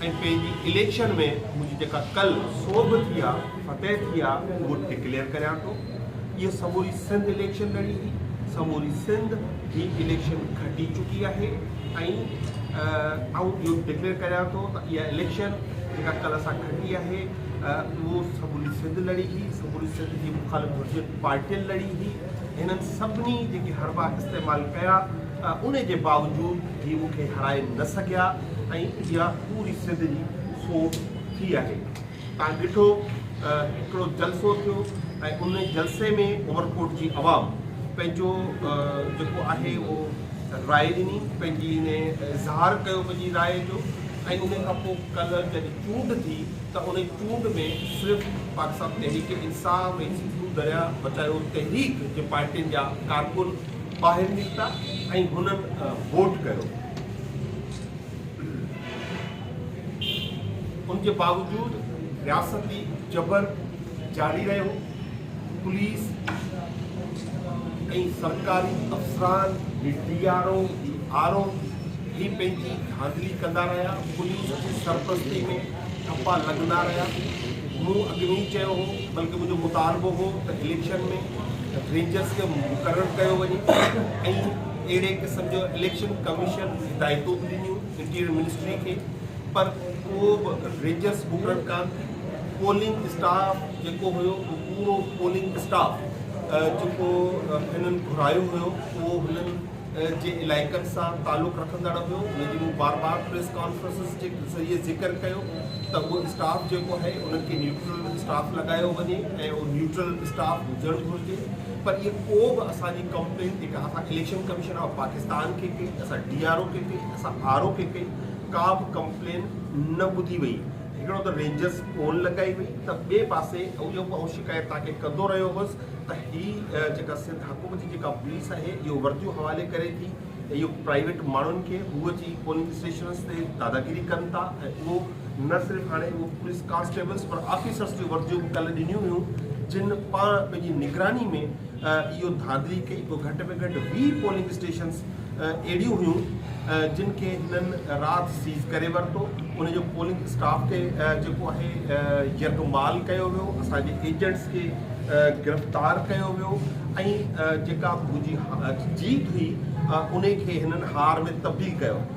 ۽ پنهنجي اليڪشن ۾ منهنجي جيڪا ڪل سوڀ ٿي آ فتح ٿي آ اهو ڊڪليئر ڪريان ٿو هيء سموري سنڌ اليڪشن لڙي هي سموري سنڌ هي اليڪشن کٽي چڪي آهي ۽ آئون اهو ڊڪليئر ڪريان ٿو ته اها اليڪشن جيڪا ڪل اسان کٽي آهي اهو سموري سنڌ لڙي هي سموري سنڌ جي مخالف هجين پارٽين لڙي هي هنن سڀني جيڪي حربا استعمال ڪيا ان جي باوجود هي مون کي هرائي نه سگهيا ۽ اها پوري سنڌ جي سونهن ٿي آهي. تان ڏٺو ته هڪڙو جلسو ٿيو ۽ ان جلسي ۾ عمرڪوٽ جي عوام پنهنجو جيڪو آهي اهو راء ڏني پنهنجي ان اظهار ڪيو پنهنجي راء جو ۽ ان کان پوء ڪلهه جڏهن چونڊ ٿي ته ان چونڊ ۾ صرف پاڪستان تحريڪ انصاف ۽ سنڌو دريا بچايو تحريڪ جي پارٽين جا ڪارڪن ٻاهر نڪتا ۽ هنن ووٽ ڪيو. ان جي باوجود رياستي جبر جاري رهيو پوليس ۽ سرڪاري افسران D R O D R O هي پنهنجي ڌانڌلي ڪندا رهيا پوليس جي سرپرستي ۾ ٺپا لڳندا رهيا مون اڳ ۾ ئي چيو هو بلڪه منهنجو مطالبو هو ته اليڪشن ۾ رينجرز کي مقرر ڪيو وڃي ۽ اهڙي قسم جو اليڪشن ڪميشن هدايتون به ڏنيون انٽيريئر منسٽري کي پر ڪو به ريجرس مقرر ڪان ٿي پولنگ اسٽاف جيڪو هيو اهو پورو پولنگ اسٽاف جيڪو هنن گهرايو هيو اهو هنن جي علائقن سان تعلق رکندڙ هيو ان جي مون بار بار پريس ڪانفرنسز جي ذريعي ذڪر ڪيو ته اهو اسٽاف جيڪو آهي انهن کي نيوٽرل اسٽاف لڳايو وڃي ۽ اهو نيوٽرل اسٽاف هجڻ گهرجي پر اهي ڪو به اسان جي ڪمپلين تي اسان اليڪشن ڪميشن آف پاڪستان کي ڪئي، اسان ڊي آر او کي ڪئي، اسان آر او کي ڪئي، ڪا به ڪمپلين نه ٻڌي وئي. هڪڙو ته رينجرز فون لڳائي وئي ته ٻئي پاسي اهو آئون شڪايت توهان کي ڪندو رهيو هوس ته هي جيڪا سنڌ حڪومت جي جيڪا پوليس آهي اهو ورديون حوالي ڪري ٿي ۽ اهو پرائيويٽ ماڻهن کي هو اچي پولنگ اسٽيشنز تي داداگيري ڪن ٿا ۽ اهو نه صرف هاڻي هو پوليس ڪانسٽيبلز پر آفيسرز جون ورديون به ڪلهه ڏنيون هيون جن پاڻ پنهنجي نگراني ۾ اهو ڌانڌلي ڪئي پوء گهٽ ۾ گهٽ ويهه پولنگ اسٽيشنز اهڙيون هيون جن کي هنن رات سيز ڪري ورتو ان جو پولنگ اسٽاف تي جيڪو آهي يرغمال ڪيو ويو اسان جي ايجنٽس کي گرفتار ڪيو ويو ۽ جيڪا به منهنجي جيت هئي ان کي هنن هار ۾ تبديل ڪيو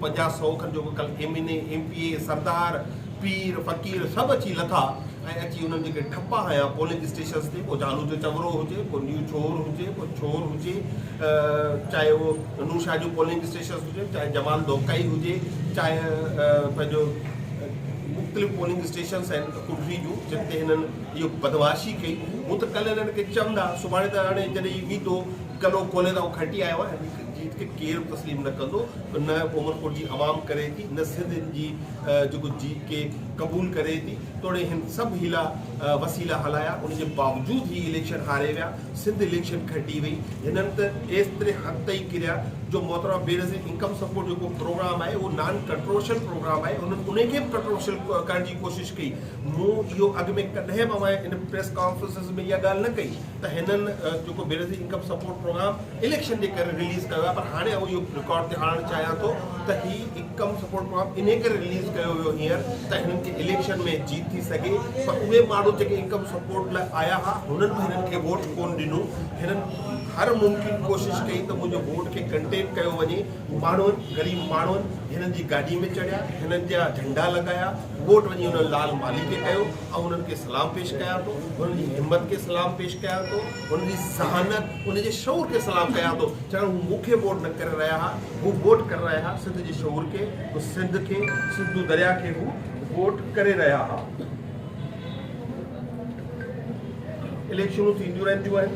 پنجاهه سؤ کن جو به ڪل M N A, M P A, سردار، پير، فقير سڀ اچي لٿا ۽ اچي انهن جيڪي ٺپا هنيا پولنگ اسٽيشنز تي ڪو جانو جو چڱرو هجي، ڪو نيو چور هجي، ڪو چور هجي چاهي اهو نوشهري جو پولنگ اسٽيشنز هجي، چاهي جمال دوڪائي هجي، چاهي پنهنجو مختلف پولنگ اسٽيشنز آهن ڪنري جون جن تي هنن اهو بدمعاشي ڪئي هو ته ڪل هنن کي چوندا سڀاڻي ته هاڻي جڏهن هي ويندو گلو کولي ته آئون کٽي آيو آهيان. جيت کي ڪير به تسليم نه ڪندو نه عمرڪوٽ جي عوام ڪري ٿي نه سنڌ جي جيڪو جيت کي قبول ڪري ٿي توڙي هن سڀ حيلا وسيلا هلايا ان جي باوجود هي اليڪشن هاري ويا سنڌ اليڪشن کٽي وئي هنن ته ايستري حد تائين ڪريا جو محترمه بينظير انڪم سپورٽ جيڪو پروگرام آهي اهو نان ڪنٽروشل پروگرام آهي انهن ان کي به ڪنٽروشل ڪرڻ جي ڪوشش ڪئي مون اهو اڳ ۾ ڪڏهن به اوهان ان پريس ڪانفرنسز ۾ اها ڳالهه نه ڪئي ته هنن جيڪو Benazir income support programme election جي ڪري رليز ڪيو آهي پر هاڻي آئون اهو رڪارڊ تي آڻڻ چاهيان ٿو ته هي هڪ ڪم سپورٽ پروگرام انهي ڪري رليز ڪيو ويو هينئر ته هنن کي اليڪشن ۾ جيت ٿي سگهي پر اهي ماڻهو جيڪي انڪم سپورٽ لاء آيا ها هنن به هنن کي ووٽ ڪون ڏنو هنن هر ممڪن ڪوشش ڪئي ته منهنجو ووٽ کي ڪنٽين ڪيو وڃي ماڻهن غريب ماڻهن هنن جي گاڏي ۾ چڙهيا هنن جا جهنڊا لڳايا ووٽ وڃي انهن لال مالهي کي ڪيو آئون انهن کي سلام پيش ڪيان ٿو انهن جي همت کي سلام پيش ڪيان ٿو. هن جي ذهانت، ان جي شعور کي سلام ڪيان ٿو، ڇاڪاڻ هو مون کي ووٽ نه ڪري رهيا ها، هو ووٽ ڪري رهيا ها سنڌ جي شعور کي، هو سنڌ کي، سنڌو درياء کي هو ووٽ ڪري رهيا ها. اليڪشنون ٿينديون رهنديون آهن،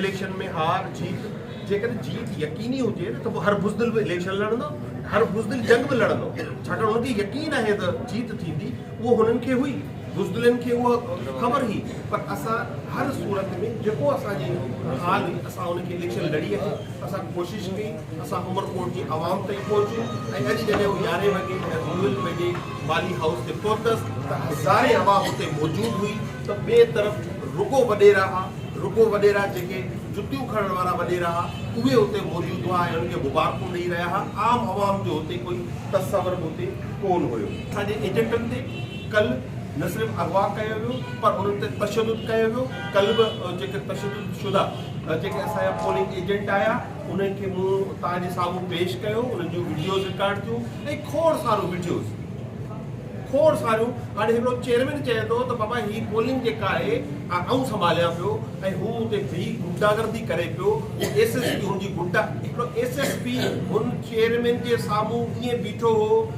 اليڪشن ۾ هار جيت، جيڪڏهن جيت يقيني هجي ته پوء هر بزدل به اليڪشن لڙندو، هر بزدل جنگ به لڙندو، ڇاڪاڻ هن کي يقين آهي ته جيت ٿيندي. اهو هنن کي هئي، بزدلن کي اها خبر هئي، پر اسان هر صورت ۾ جيڪو اسان جي حال هئي اسان ان کي لڇيل لڙي آهي، اسان ڪوشش ڪئي، اسان عمرڪوٽ جي عوام تائين پهچون ۽ اڄ جڏهن هو يارهين وڳي ڊويل ويجهي والي هائوس تي پهتس ته هزارين عوام اتي موجود هئي ته ٻئي طرف رڳو وڏيرا ها، رڳو وڏيرا جيڪي جتيون کڻڻ وارا وڏيرا ها اهي اتي موجود هئا ۽ هنن کي مبارڪون ڏئي رهيا ها، عام عوام جو هتي ڪوئي تصور به اتي ڪون هيو. اسان جي ايجنٽن تي ڪلهه نه صرف اغوا ڪيو ويو پر انهن تي تشدد ڪيو ويو ڪلهه به جيڪي تشدد شده جيڪي اسان جا پولنگ ايجنٽ آيا انهن کي مون توهان جي سامهون پيش ڪيو انهن جون وڊيوز رڪارڊ ٿيون ۽ کوڙ سارو وڊيوز کوڙ ساريون هاڻي هڪڙو چيئرمين چئي ٿو ته بابا هي پولنگ جيڪا آهي آئون سنڀاليان پيو ۽ هو اتي بيهي غنڊاگردي ڪري پيو هو ايس ايس پي هن جي غنڊا هڪڙو ايس ايس پي هن چيئرمين جي سامهون ائين بيٺو هو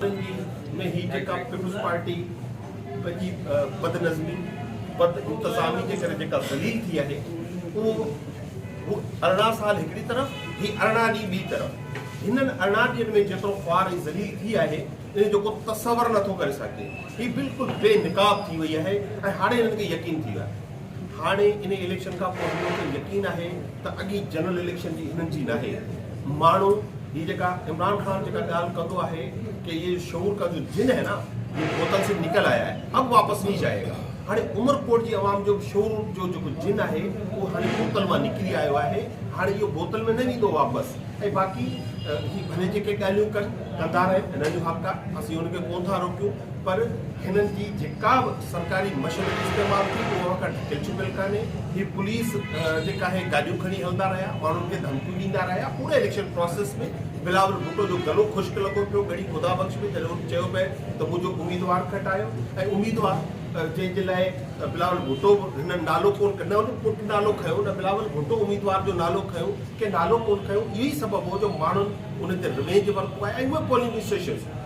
سنڌي ۾ هي جيڪا پيپلز پارٽي پنهنجي بدنظمي بد انتظامي جي ڪري جيڪا ذليل ٿي آهي اهو هو ارڙهن سال هڪڙي طرف هي ارڙهن ڏينهن ٻي طرف هنن ارڙهن ڏينهن ۾ جيترو خوار ۽ ذليل ٿي آهي ان جو ڪو تصور نٿو ڪري سگهجي هي بلڪل بي نقاب ٿي وئي آهي ۽ هاڻي هنن کي يقين ٿي ويو آهي هاڻي انهي اليڪشن کان پوء هنن کي يقين آهي ته اڳي جنرل اليڪشن جي هنن جي ناهي ماڻهو هي جيڪا عمران خان جيڪا ڳالهه ڪندو آهي ڪي يي جو شعور ڪا جو جن هي نا يي بوتل سي نڪل آيا هي اب واپس نهي جائي گا هاڻي عمر ڪوٽ جي عوام جو شعور جو جيڪو جن آهي اهو هاڻي بوتل مان نڪري آيو آهي هاڻي اهو بوتل ۾ نه ويندو واپس ۽ باقي هي ڀلي جيڪي ڳالهيون ڪن ڪندا رهن هنن جو حق آهي اسين هنن کي ڪونه ٿا روڪيون پر هنن جي جيڪا به سرڪاري مشين استعمال ٿي اهو اوهان کان ڊٽيل چڪيل ڪانهي هي پوليس جيڪا آهي گاڏيون کڻي هلندا رهيا ماڻهن کي ڌمڪيون ڏيندا رهيا پوري اليڪشن پروسيس ۾ بلاول ڀٽو جو گلو خشڪ لڳو پيو ڳڙهي خدا بخش ۾ جڏهن چيو پئي ته منهنجو اميدوار کٽايو ۽ اميدوار جنهن جي لاء بلاول ڀٽو هن نالو ڪون نه هن پٽ نالو کنيو نه بلاول ڀٽو اميدوار جو نالو کنيو ڪنهن نالو ڪون کنيو اهو ئي سبب هو جو ماڻهن ان تي روينج ورتو آهي ۽ اهي پولنگ اسٽيشنز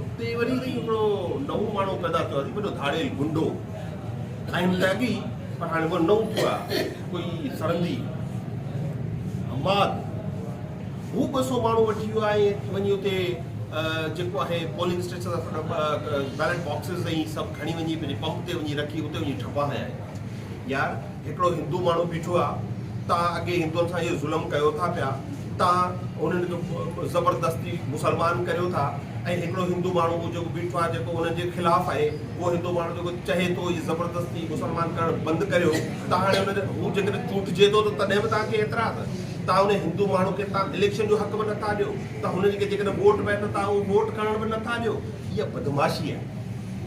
اتي وري هڪڙو نئون ماڻهو پيدا ٿيو آهي وڏو ڌاڙيل گنڊو ۽ ٽيگي پر هاڻي اهو نئون ٿيو آهي ڪوئي سرندي حماد هو ٻه سو ماڻهو وٺي ويو آهي وڃي اتي جيڪو آهي پولنگ اسٽيشن بيلٽ باڪسز ۽ سڀ کڻي وڃي پنهنجي پمپ تي وڃي رکي اتي وڃي ٺپا هيا يار هڪڙو هندو ماڻهو بيٺو آ توهان اڳي هندون سان اهو ظلم ڪيو ٿا پيا توهان انهن کي زبردستي مسلمان ڪريو ٿا ۽ هڪڙو هندو ماڻهو اهو جيڪو بيٺو آ جيڪو انهن جي خلاف آهي اهو هندو ماڻهو جيڪو چهي ٿو هي زبردستي مسلمان ڪرڻ بند ڪريو ته هاڻي انهن هو جيڪڏهن چونڊجي ٿو ته تڏهن به توهان کي اعتراض توهان انهن هندو ماڻهو کي توهان اليڪشن جو حق به نٿا ڏيو توهان هن کي جيڪڏهن ووٽ به نٿا اهو ووٽ ڪرڻ به نٿا ڏيو اها بدمعاشي آهي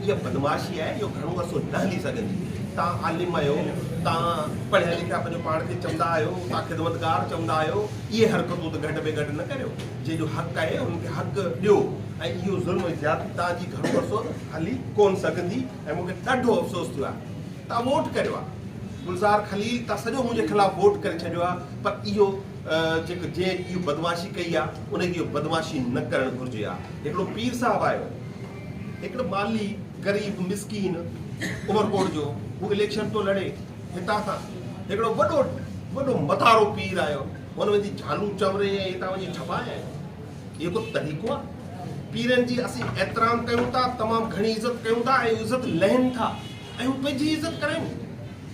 اها بدمعاشي آهي جو گهڻو عرصو نه هلي سگهندي. توهان عالم آهيو، توهان پڙهيا لکيا پنهنجو پاڻ کي چوندا آهيو، توهان خدمتگار چوندا آهيو، اهي حرڪتون ته گهٽ ۾ گهٽ نه ڪريو. جنهن جو حق آهي انهن کي حق ڏيو ۽ اهو ظلم ۽ زيادتي توهان جي گهڻو عرصو هلي ڪونه سگهندي ۽ مون کي ڏاڍو افسوس ٿيو آهي. توهان ووٽ ڪريو آهي. گلزار خليل توهان سڄو منهنجي خلاف ووٽ ڪري ڇڏيو آهي پر اهو جيڪو جنهن اهو بدمعاشي ڪئي آهي انهن کي اهو بدمعاشي نه ڪرڻ گهرجي ها. هڪڙو پير صاحب آهيو. هڪڙو پارلي غريب مسڪين عمرڪوٽ جو هو اليڪشن پيو لڙي هتان کان هڪڙو وڏو وڏو متارو پير آيو هن ويندي جھالون چوري ۽ هتان وڃي ڇپائي آيو اهو ڪو طريقو آ پيرن جي اسين احترام ڪيون ٿا تمام گھڻي عزت ڪيون ٿا ۽ عزت لهن ٿا ۽ هو پنهنجي عزت ڪرين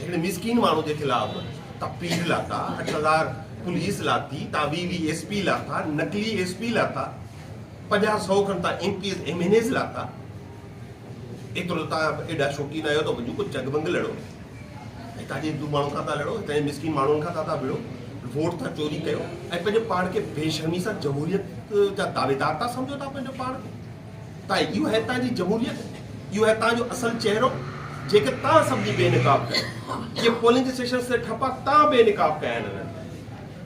هن مسڪين ماڻهو جي خلاف ته پيڊ لاٿا، اٺ هزار پوليس لاٿي، تان ويهه ويهه ايس پي لاٿا، نقلي ايس پي لاٿا، پنجاهه سئو کن تان M Ps, M N As لاٿا. ايترو ته تان ايڏا شوقين آهيو ته وڃو ڪو جڳ ڀنگ لڙو. هتان جي هندو ماڻهن کان ٿا لڙو، هتان جي مسڪين ماڻهن کان ٿا ٿا وڙهو، ووٽ ٿا چوري ڪيو ۽ پنهنجو پاڻ کي بي شرمي سان جمهوريت جا دعويدار ٿا سمجهو ٿا پنهنجو پاڻ کي. ته اهو آهي تنهن جي جمهوريت، اهو آهي تنهن جو اصل چهرو، جيڪي تنهن سڀني بي نقاب ڪيو. جي پولنگ اسٽيشنز تي ٺپا تنهن بي نقاب ڪيا آهن هنن.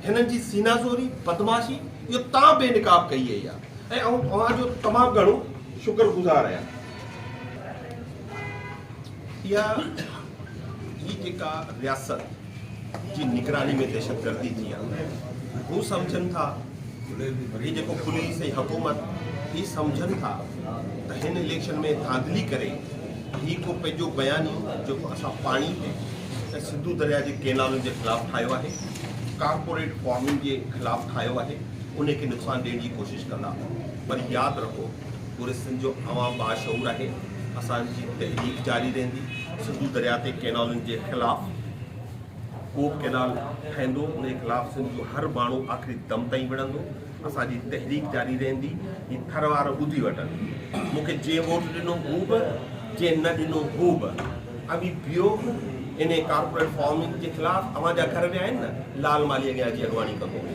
هنن جي سينا زوري، بدمعاشي اهو تنهن بي نقاب ڪئي اهي آهي ۽ آئون اوهان جو تمام گهڻو شڪر گذار آهيان. اها هي جيڪا رياست. جي نگراني ۾ دهشتگردي ٿي آهي هو سمجهن ٿا هي جيڪو پوليس ۽ حڪومت هي سمجهن ٿا ته هن اليڪشن ۾ ڌانڌلي ڪري هي ڪو پنهنجو بيانيو جيڪو اسان پاڻي تي ۽ سنڌو دريا جي ڪينالن جي خلاف ٺاهيو آهي ڪارپوريٽ فارمنگ جي خلاف ٺاهيو آهي ان کي نقصان ڏيڻ جي ڪوشش ڪندا پر ياد رکو پوري سنڌ جو عوام باشعور آهي اسان جي تحريڪ جاري رهندي سنڌو درياء تي ڪينالن جي خلاف ڪو به ڪينال ٺهندو ان جي خلاف سنڌ جو هر ماڻهو آخري دم تائين وڙهندو اسان جي تحريڪ جاري رهندي هي ٿر وارا ٻڌي وٺن مون کي جنهن ووٽ ڏنو هو به جنهن نه ڏنو هو به اوي بيو ان ڪارپوريٽ فارمنگ جي خلاف اوهان جا گهر ويا آهن نه لال مالي اڳيان اچي اڳواڻي ڪندو هو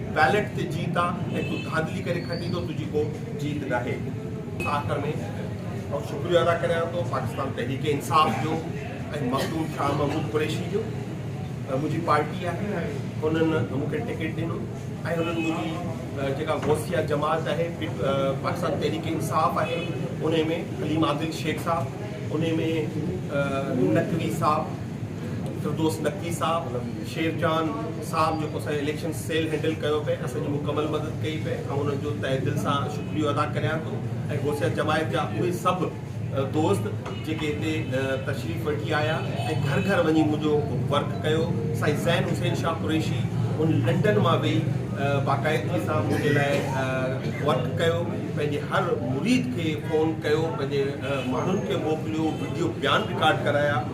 بيلٽ تي جيت آ ۽ تون ڌانڌلي ڪري کٽين ٿو تنهنجي ڪو جيت ناهي. آخر ۾ آئون شڪريو ادا ڪريان ٿو پاڪستان تحريڪ انصاف جو ۽ مخدوم شاهه محمود قريشي جو منهنجي پارٽي آهي انهن مون کي ٽڪيٽ ڏنو ۽ انهن منهنجي جيڪا غوثيه جماعت آهي پاڪستان تحريڪ انصاف آهي انهي ۾ حليم عادل شيخ صاحب انهي ۾ نقوي صاحب فردوس نقوي صاحب شير جان صاحب جيڪو اسان اليڪشن سيل هينڊل ڪيو پئي اسان جي مڪمل مدد ڪئي پئي آئون انهن جو تهه دل سان شڪريو ادا ڪريان ٿو ۽ غوثيه جماعت جا اهي سڀ دوست جيڪي هتي تشريف وٺي آيا ۽ گهر گهر وڃي منهنجو ورڪ ڪيو سائين زين حسين شاهه قريشي هن لنڊن مان ويهي باقاعدگي سان منهنجي لاء ورڪ ڪيو پنهنجي هر مريد کي فون ڪيو پنهنجي ماڻهن کي موڪليو وڊيو بيان رڪارڊ ڪرايا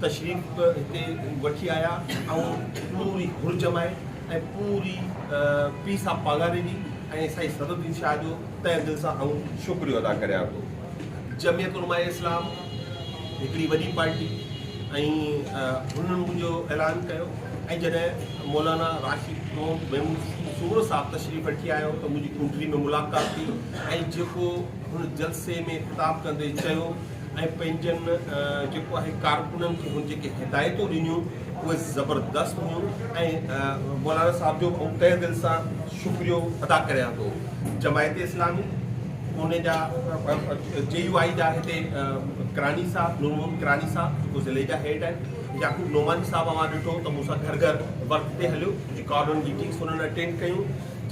تشريف هتي وٺي آيا ۽ پوري گهر جمائي ۽ پوري پيء صاحب پاڳاري ڏني ۽ سائين صدر الدين شاهه جو تهه دل سان آئون شڪريو ادا ڪريان ٿو. جمعيت علماء اسلام هڪڙي وڏي پارٽي ۽ هنن منهنجو اعلان ڪيو ۽ جڏهن مولانا راشد محمد محمود سومرو صاحب تشريف وٺي آيو ته منهنجي ڪوٺڙي ۾ ملاقات ٿي ۽ جيڪو هن جلسي ۾ خطاب ڪندي چيو ۽ پنهنجن جيڪو آهي ڪارڪنن کي هن جيڪي هدايتون ڏنيون اهي زبردست هيون ۽ مولانا صاحب جو آئون تهه دل سان شڪريو ادا ڪريان ٿو جماعت اسلامي پوني جا جي يو آئي جا هتي ڪراني صاحب نور محمد ڪراني صاحب جيڪو ضلعي جا هيڊ آهن يعقوب نعماني صاحب اوهان ڏٺو ته مون سان گهر گهر ورڪ تي هليو جي ڪارنر ميٽنگس هنن اٽينڊ ڪيون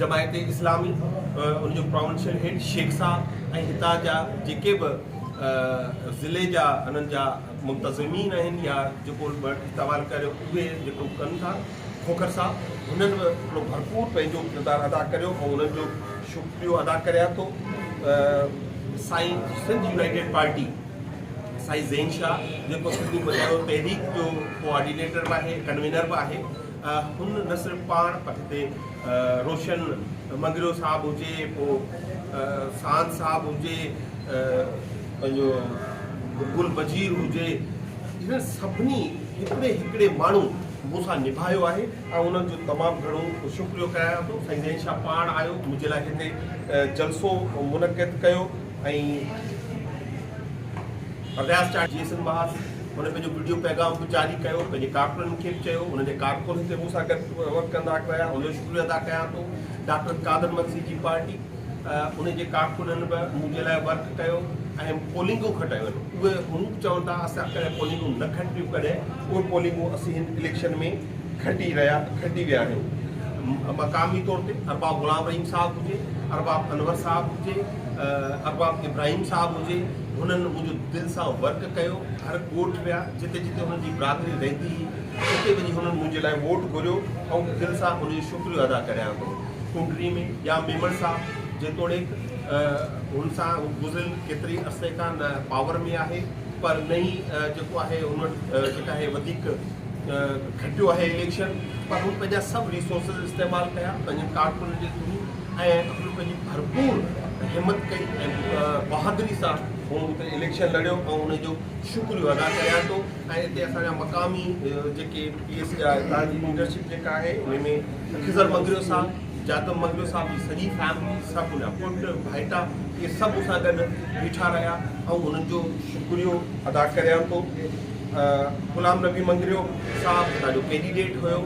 جماعت اسلامي ان جو پراونشل هيڊ شيخ صاحب ۽ هتان جا جيڪي به ضلعي جا انهن جا منتظمين آهن يا جيڪو استعمال ڪري اهي جيڪو ڪن ٿا کوکر صاحب هنن به هڪڙو ڀرپور پنهنجو ڪردار ادا ڪريو ۽ انهن جو شڪريو ادا ڪريان ٿو سائين سنڌ يونائيٽيڊ پارٽي سائين زين شاهه جيڪو سنڌو بچايو تحريڪ جو ڪوآرڊينيٽر به آهي ڪنوينر به آهي هن نه صرف پاڻ پر هتي روشن مڱريو صاحب هجي، پوء ساند صاحب هجي، پنهنجو گل وزير هجي، انهن سڀني هڪڙي هڪڙي ماڻهو مون سان نڀايو آهي ۽ انهن جو تمام گهڻو شڪريو ڪريان ٿو. سائين زين شاهه پاڻ آيو، منهنجي لاء هتي جلسو منعقد ڪيو ۽ رياض چاڙهي جي سنڌ مهاراج هن پنهنجو وڊيو پيغام به جاري ڪيو، پنهنجي ڪارڪنن کي به چيو، انهن جي ڪارڪن هتي مون سان گڏ ورڪ ڪندا رهيا، ان جو شڪريو ادا ڪيان ٿو، ڊاڪٽر قادر مگسي جي پارٽي ۽ ان جي ڪارڪنن به مون جي لاء ورڪ ڪيو ۽ پولنگون کٽايون، اهي هنوڪ چون ٿا اسان ڪڏهن پولنگون نه کٽيون ڪڏهن اهي پولنگون اسين هن اليڪشن ۾ کٽي رهيا کٽي ويا آهيون، مقامي طور تي ارباب غلام رحيم صاحب هجي، ارباب انور صاحب هجي، ارباب ابراهيم صاحب هجي هنن منهنجو دل سان ورڪ ڪيو هر ڳوٺ ويا جتي جتي هنن جي برادري رهندي هئي اتي وڃي هنن منهنجي لاء ووٽ گهريو آئون دل سان هن جو شڪريو ادا ڪريان ٿو ڪنڊري ۾ ڄام ميمڻ صاحب جيتوڻيڪ هن سان گذريل ڪيتري عرصي کان پاور ۾ آهي پر نه ئي جيڪو آهي هن وٽ جيڪا آهي وڌيڪ کٽيو آهي اليڪشن پر هن پنهنجا سڀ ريسورسز استعمال ڪيا پنهنجن ڪارڪنن جي ٿرو ۽ اپل پنهنجي ڀرپور همت ڪئي ۽ بهادري سان هن اتي اليڪشن لڙيو ۽ ان جو شڪريو ادا ڪريان ٿو ۽ اتي اسان جا مقامي جيڪي پي ايس جا اتان جي ليڊرشپ جيڪا آهي ان ۾ خضر مگريو صاحب جادم مگريو صاحب جي سڄي فيملي سڀ ان جا پٽ ڀائيٽا اهي سڀ مون سان گڏ بيٺا رهيا ۽ انهن جو شڪريو ادا ڪريان ٿو غلام نبي مگريو صاحب اسان جو ڪينڊيڊيٽ هيو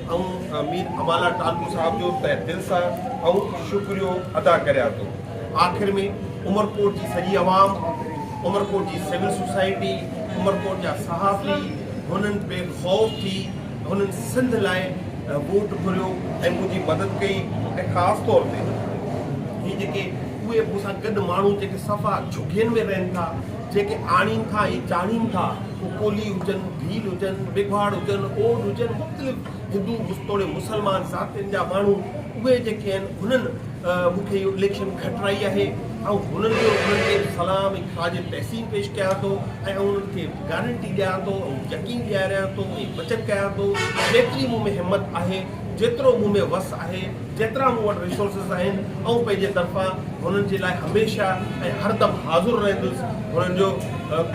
آئون مير امالا ٽالپر صاحب جو تهه دل سان آئون شڪريو ادا ڪريان ٿو. آخر ۾ عمرڪوٽ جي سڄي عوام، عمرڪوٽ جي سول سوسائٽي، عمرڪوٽ جا صحافي هنن بي خوف ٿي هنن سنڌ لاء ووٽ گهريو ۽ منهنجي مدد ڪئي ۽ خاص طور تي هي جيڪي اهي مون سان گڏ ماڻهو جيڪي صفا جهگين ۾ رهن ٿا جيڪي آڻين ٿا ۽ چاڙهين ٿا پوء ڪولهي هجن، ڀيل هجن، ميگهواڙ هجن، اوڏ هجن، مختلف هندو توڙي مسلمان ذاتين جا ماڻهو اهي جيڪي آهن هنن مون کي اهو اليڪشن کٽرائي آهي آئون هنن جو انهن کي سلام ۽ خراج تحسين پيش ڪيان ٿو ۽ آئون انهن کي گارنٽي ڏيان ٿو ۽ يقين ڏياريان ٿو ۽ وچن ڪيان ٿو جيتري مون ۾ همت آهي جيترو مون ۾ وس آهي، جيترا مون وٽ ريسورسز آهن، آئون پنهنجي طرفان هنن جي لاء هميشه ۽ هردم حاضر رهندس، هنن جو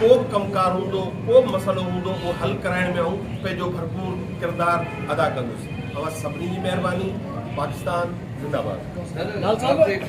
ڪو به ڪم ڪار هوندو، ڪو به مسئلو هوندو اهو حل ڪرائڻ ۾ آئون پنهنجو ڀرپور ڪردار ادا ڪندس. اوهان سڀني جي مهرباني. پاڪستان زنده باد.